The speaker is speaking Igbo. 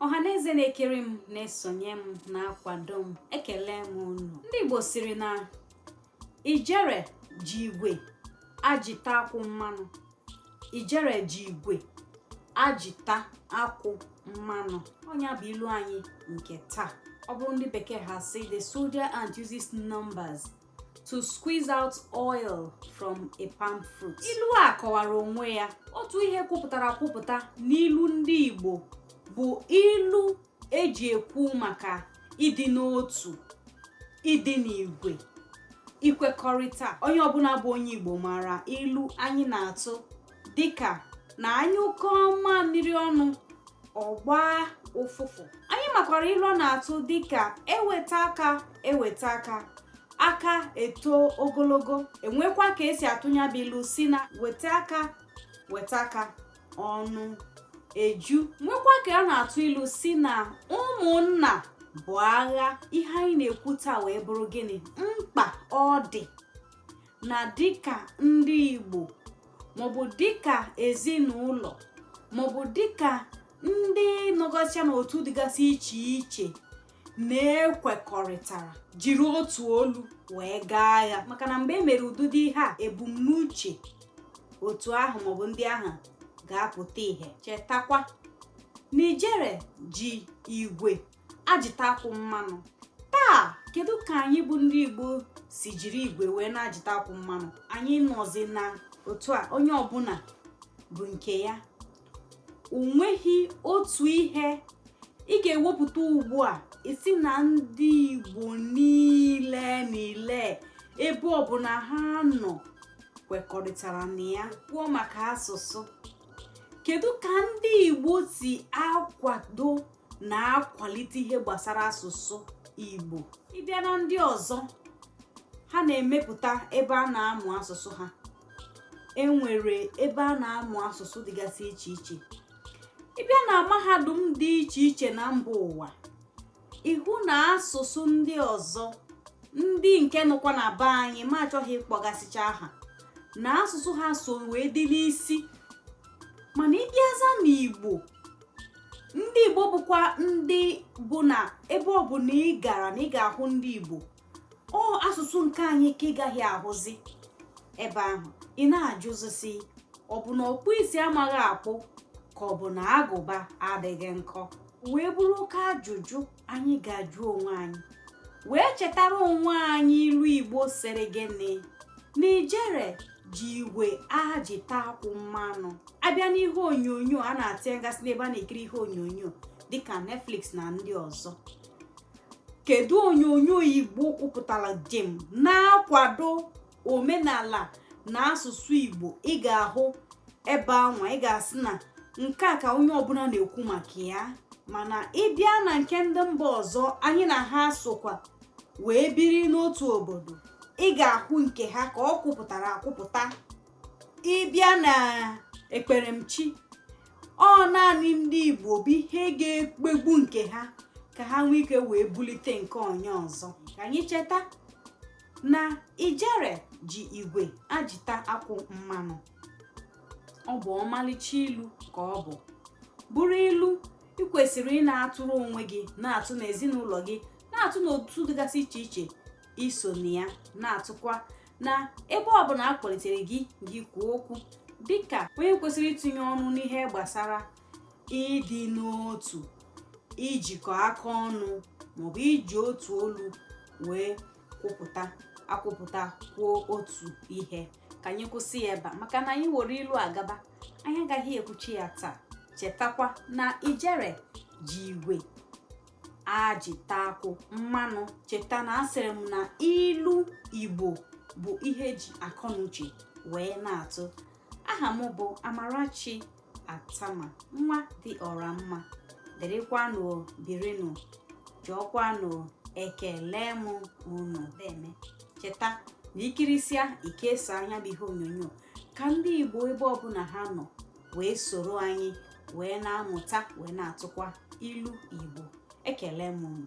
ọha na eze na-ekiri m na-esonye m na-akwado m ekele m unu ndị Igbo sịrị na ijere ji igwe ajita akwụ mmanụ ijere ji igwe ajita akwụ mmanụ ọ nya bụ ilu anyị nke taa ọ bụrụ ndị bekee ha sị the soldier ant uses numbers to squeeze out oil from a palm fruit. Ilu a kọwara onwe ya otu ihe kwupụtara kwupụta n'ilu ndị Igbo bụ ilu eji ekwu maka ịdị n'otu ịdị n'igwe ikwekọrịta onye ọbụla bụ onye Igbo maara ilu anyị na-atụ dịka na anyụkọ mamịrị ọnụ ọ gbaa ụfụfụ anyị makwara ilu a na-atụ dịka eweta aka eweta aka aka eto ogologo enwekwa ka esi atụ nya bụ ilu sị na weta aka weta aka ọnụ eju nwekwa ka a na-atụ ilu sị na ụmụnna bụ agha ihe anyị na-ekwu taa wee bụrụ gịnị mkpa ọ dị na dịka ndị Igbo maọbụ dịka ezinụlọ maọbụ dịka ndị nọgacha n'otu dịgasị iche iche na-ekwekọrịtara jiri otu olu wee gaa agha maka na mgbe e mere ụdịdị ihe a ebumnuche otu ahụ maọbụ ndị ahụ ga-apụta ihe chetakwa na ijere ji igwe ajịta akwụ mmanụ taa kedu ka anyị bụ ndị igbo si jiri igwe wee na-ajịta akwụ mmanụ anyị nọzi na otu a onye ọbụla bụ nke ya o nweghị otu ihe ị ga-ewepụta ugbu a ị sị na ndị igbo niile niile ebe ọbụla ha nọ kwekọrịtara na ya kwuo maka asụsụ kedu ka ndị igbo si akwado na-akwalite ihe gbasara asụsụ Igbo ị bịa na ndị ọzọ ha na-emepụta ebe a na-amụ asụsụ ha enwere ebe a na-amụ asụsụ dịgasị iche iche ị bịa na mahadum dị iche iche na mba ụwa ị hụ na asụsụ ndị ọzọ ndị nke nọkwa na be anyị ma achọghị ịkpọgasịcha aha na asụsụ ha so wee dị n'isi mana ị bịaza n'igbo ndị igbo bụkwa ndị bụ na ebe ọbụla ị gara na ị ga-ahụ ndị igbo ọ asụsụ nke anyị ka ị gaghị ahụzi ebe ahụ ị na-ajụzi sị ọ bụ na ọkpụ isi amaghị akpụ ka ọ bụ na agụba adịghị nkọ wee bụrụ oke ajụjụ anyị ga-ajụ onwe anyị wee chetara onwe anyị ilu igbo sịrị gịnị n'ijere ji igwe ajita akwụ mmanụ a bịa n'ihe onyonyo a na-etinyegasị n'ebe a na-ekiri ihe onyonyo dịka Netflix na ndị ọzọ kedu onyonyo igbo kwụpụtara jem na-akwado omenala na asụsụ igbo ị ga-ahụ ebe anwa ị ga-asị na nke a ka onye ọbụla na-ekwu maka ya mana ị bịa na nke ndị mba ọzọ anyị na ha sokwa wee biri n'otu obodo ị ga-ahụ nke ha ka ọ kwụpụtara akwụpụta ị bịa na ekperemchi ọ naanị ndị igbo bụ ihe ga-ekpegbu nke ha ka ha nwee ike wee bulite nke onye ọzọ ka anyị cheta na ijere ji igwe ajita akwụ mmanụ ọ bụ ọmalịcha ilu ka ọ bụ bụrụ ilu ị kwesịrị ị na-atụrụ onwe gị na-atụ n'ezinụlọ gị na-atụ n'otu dịgasị iche iche i so na ya na-atụkwa na ebe ọbụla a kpọlitere gị gị kwuo okwu dịka onye kwesịrị itinye ọnụ n'ihe gbasara ịdị n'otu ijikọ aka ọnụ maọbụ iji otu olu wee kwụpụta akwụpụta kwuo otu ihe ka anyị kwụsị ya ebe a maka na anyị were ilu agaba anyị agaghị ekwuchi ya taa chetakwa na ijere ji igwe ajita akwụ mmanụ cheta na asịrị m na ilu igbo bụ ihe e ji akọnuche wee na-atụ aha m bụ amarachi attamah nwa dị ọra mma dịrịkwanụ birinụ jọọkwanụ ekele m unu deme cheta na i kirisia i kesaa nya bụ ihe onyonyo ka ndị igbo ebe ọbụla ha nọ wee soro anyị wee na-amụta wee na-atụkwa ilu igbo ekele m unu